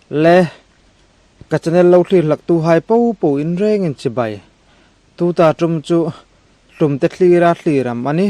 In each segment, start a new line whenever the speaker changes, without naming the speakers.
Le ka channel lo thlir hlak tu hai po po in reng in chibai tu ta tum chu tum te thlir a thlir ang mah ni.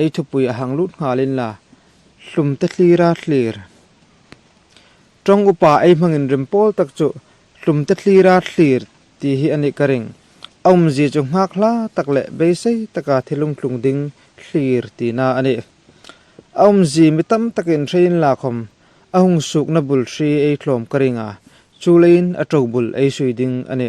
Ei thupui a hang lut nghalin la, hlum te hlir a hlir. Tawng upa ei hmangin rim pawl tak chu hlum te hlir a hlir tih hi a nih ka ring. A awmzia chu nghak hla tak leh beisei taka thil lungtlung ding hlir tihna a ni. A awmzi mi tam takin hreiin lakhawm a hung sukna bul hri ei hlawm ka ring a, chu leiin a to bul ei sui ding a ni.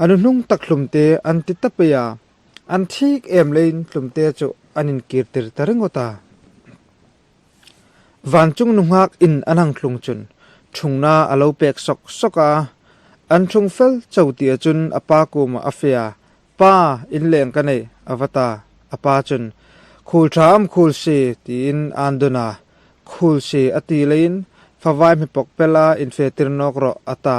A nu hnung tak hlumte an ti ta phei a, an thik em leiin hlumte chu an inkir tir ta ringawt a. Vancung nu nghak in an hang thlung chun thungna a lo pek sawk sawk a, an thung fel cho ti a chun a pa kumah a fia, Pa, in leng ka neih a va ta. A pa chun, Khul tha am khul si, tiin a an dun a, khul si a ti leiin favai hmipawk pela in fe tir nawk rawh a ta.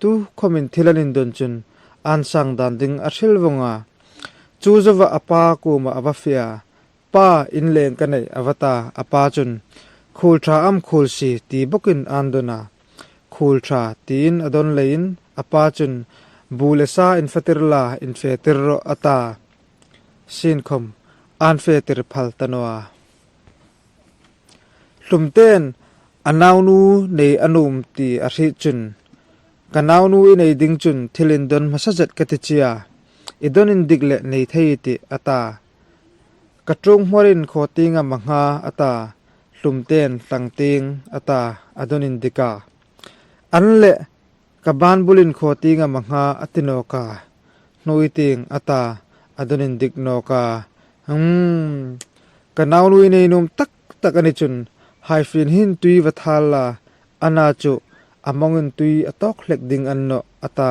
Tu khawmin thil an indun chun an sang dan ding a hril vawng a. Chu zova a pa kumah a va fia. Pa, in leng ka neih, a va ta. A pa chun, Khul tha am khul si, ti bawkin an dun a. Khul tha, tiin a dawn leiin a pa chun, Bu le sa in fatir la, in fe tir rawh, a ta. Sinkhawm, an fe tir phal ta nawha. Hlumte'n a naunu nei a num ti a hrih chun, Ka naunu i nei ding chun thil in dawn hmasa zet ka ti chia, i dawn in dik leh nei thei i tih a ta. Ka ṭung hmawr in khaw ting a ma hnga a ta. Hlumte'n tlang ting a ta a dawn in dik a an leh. Ka ban bulin khaw ting a ma hnga a ti nawk a, hnui ting a ta a dunin dik nawk a, Umm. Ka naunu i neinum tak tak a ni chun Haifian hin tui va thal la, Anna chu a mawngin tui a tawk hlek ding an nawh a ta.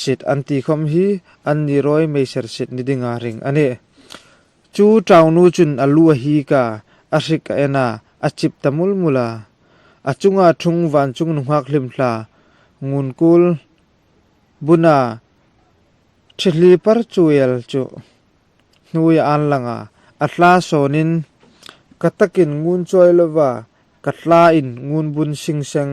Sit an tih khawm hi an ni rawi hmeiser sit ni ding a ring a ni. Chu Chaunu chun a lu a hik a, a hrik a en a, a chip ta mul mul a. A chunga thung vancung nu nghak hlim hla, ngun kul, buna thi hli par chuel chu hnui a an lang a, a hla sawn in ka takin ngun chuai lova ka hla in ngun bun hring seng